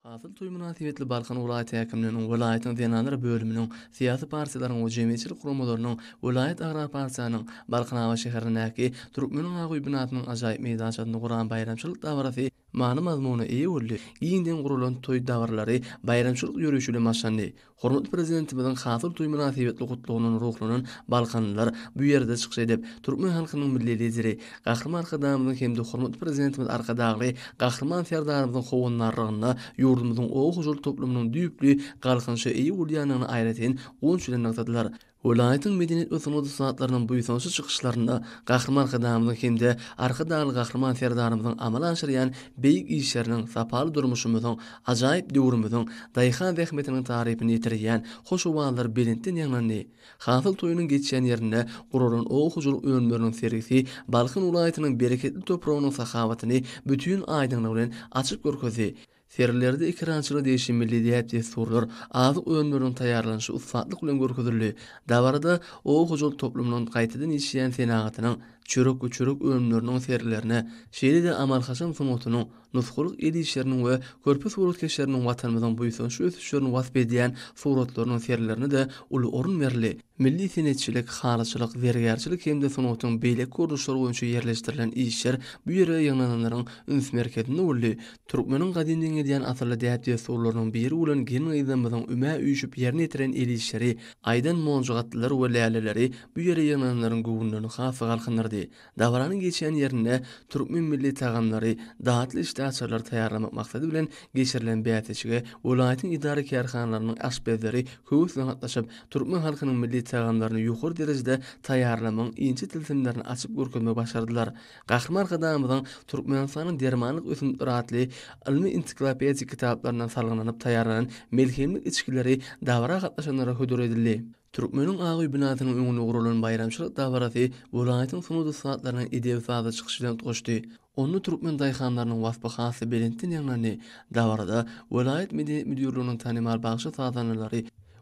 Hasyl toýy mynasybetli Balkan welaýat häkimliginiň welaýatyň zenanlar bölüminiň, syýasy partiýalaryň we jemgyýetçilik guramalarynyň, welaýat agrar partiýanyň, Balkanabat şäherindäki Türkmeniň ak öýi binasynyň ajaýyp meýdançasynda guran baýramçylyk dabarasy many-mazmuna eýe boldy, giňden guralan toý dabaralary baýramçylyk ýörişi bilen başlandy, Hormatly Prezidentimiziň Hasyl toýy mynasybetli gutlagyndan ruhlanan balkanlylar bu ýerde çykyş edip, türkmen halkynyň Milli Lideri, Gahryman Arkadagymyzyň hem-de hormatly Prezidentimiz Arkadagly Gahryman Serdarymyzyň howandarlygynda ýurdumyzyň oba hojalyk toplumynyň düýpli galkynyşa eýe bolýandygyny aýratyn guwanç bilen nygtadylar. Welaýatyň medeniýet we sungat ussatlarynyň buýsançly çykyşlarynda Gahryman Arkadagymyzyň hem-de Arkadagly Gahryman Serdarymyzyň amala aşyrýan beýik işleriniň, sapaly durmuşymyzyň, ajaýyp döwrümiziň daýhan zähmetiniň tarypyny ýetirýän hoş owazlar belentden ýaňlandy. Hasyl toýunyň geçýän ýerinde guralan oba hojalyk önümleriniň sergisi Balkan welaýatynyň bereketli topragynyň sahawatyny bütin aýdyňlygy bilen açyp görkezdi. Sergilerde ekerançylyk degişli milli däp-dessurlar, azyk önümleriniň taýýarlanyşy ussatlyk bilen görkezildi. Dabarada oba hojalyk toplumynyň gaýtadan işleýän senagatynyň, çörek we çörek önümleriniň sergilerine, şeýle-de amal-haşam sungatynyň, nusgalyk el işleriniň we körpe suratkeşleriniň Watanymyzyň buýsançly ösüşlerini wasp edýän suratlarynyň sergilerine-de uly orun berildi. Milli senetçilik, halyçylyk, zergärçilik hem-de sungatyň beýleki görnüşleri boýunça ýerleşdirilen işler bu ýere ýygnananlaryň üns merkezinde boldy. Türkmeniň gadymdan gelýän asylly däp-dessurlarynyň biri bolan gelin-gyzlarymyzyň ümä üýşüp ýerine ýetiren el işleri, aýdan monjugatlylar we läleleri bu ýere ýygnananlaryň göwünlerini has-da galkyndyrdy. Dabaranyň geçýän ýerinde türkmen milli tagamlary, datly içli açarlary taýýarlamak maksady bilen geçirilen bäsleşige welaýatyň edara-kärhanalarynyň aşpezleri höwesli gatnaşyp, türkmen halkynyň milli tagamlaryny ýokary derejede taýýarlamagyň inçe tilsimlerini açyp görkezmegi başardylar. Gahryman Arkadagymyzyň Türkmenistanyň dermanlyk ösümlikleri atly ylmy-ensiklopedik kitaplaryndan salgylanyp taýýarlanan melhemlik içgileri dabara gatnaşanlara hödür edildi. Türkmeniň ak öý binasynyň öňünde guralan baýramçylyk dabarasy welaýatyň sungat ussatlarynyň edebi-sazy çykyş bilen utgaşdy. Onda türkmen daýhanlarynyň waspy has-da belentden ýaňlandy. Dabarada welaýat medeniýet müdirliginiň tanymal bagşy-sazandalary,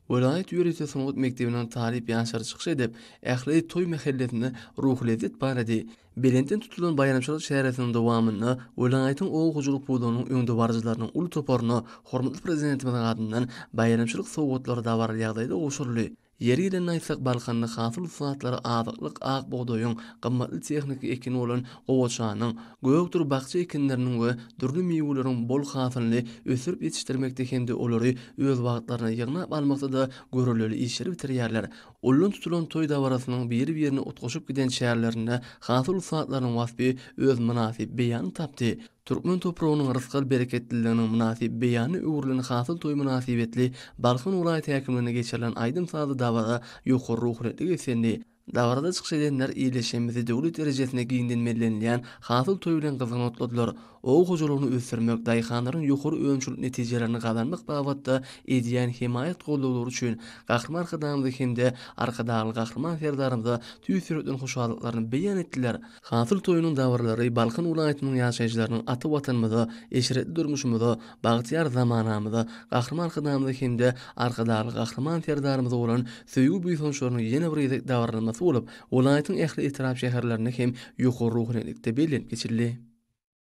Welaýat ýörite sungat mekdebiniň talyp ýaşlary çykyş edip, ähli toý mähellesinde ruhulezzet barady. Belentden tutulan baýramçylyk çäresiniň dowamynda welaýatyň oba hojalyk pudagynyň öňdebaryjylarynyň uly toparyna hormatly Prezidentimiziň adyndan baýramçylyk sowgatlary dabaraly ýagdaýda gowşuryldy. Ýeri gelende aýtsak, Balkanda hasyl ussatlar azyklyk ak bugdaýyň, gymmatly tehniki ekini bolan Gowaçanyň, gökdür bakja ekinleriniň we dürli miweleriň bol hasylyny ösdürip ýetişdirmekde hem-de olary öz wagtlaryna ýygnap almakda-da görellili işleri bitirýärler. Ullan tutulan toý dabarasynyň biri-birine utgaşyp giden çärlerinde hasyl ussatlarynyň waspy öz mynasyp beýanyny tapdy. Türkmen topragynyň rysgal-bereketliliginiň mynasyp beýanyna öwrülen hasyl toýy mynasybetli Balkan welaýat häkimliginde geçirilen aýdym-sazly dabara ýokary ruhunetli beslendi. Dabarada çykyş edenler ýerleşigimizi döwlet derejesinde giňden bellenilýän Hasyl toýy bilen gyzgyn otladylar. Oba hojalygyny ösdürmek, daýhanlaryň ýokary önümçilik netijelerini gazanmak babatda edýän hemaýat-goldawlary üçin Gahryman Arkadagymyza hem-de Arkadagly Gahryman Serdarymyza tüýs ýürekden hoşallyklaryny beýan etdiler. Hasyl toýunyň dabyralary Balkan welaýatynyň ýaşaýjylarynyň ata Watanymyza, eşretli durmuşymyza, bagtyýar zamanamyza, Gahryman Arkadagymyza hem-de Arkadagly Gahryman Serdarymyza bolan söýgi-buýsançlarynyň ýene bir gezek dabaralanmasy bolup, welaýatyň ähli etrap-şäherlerinde hem ýokary ruhanyýetlikde bellenip geçildi.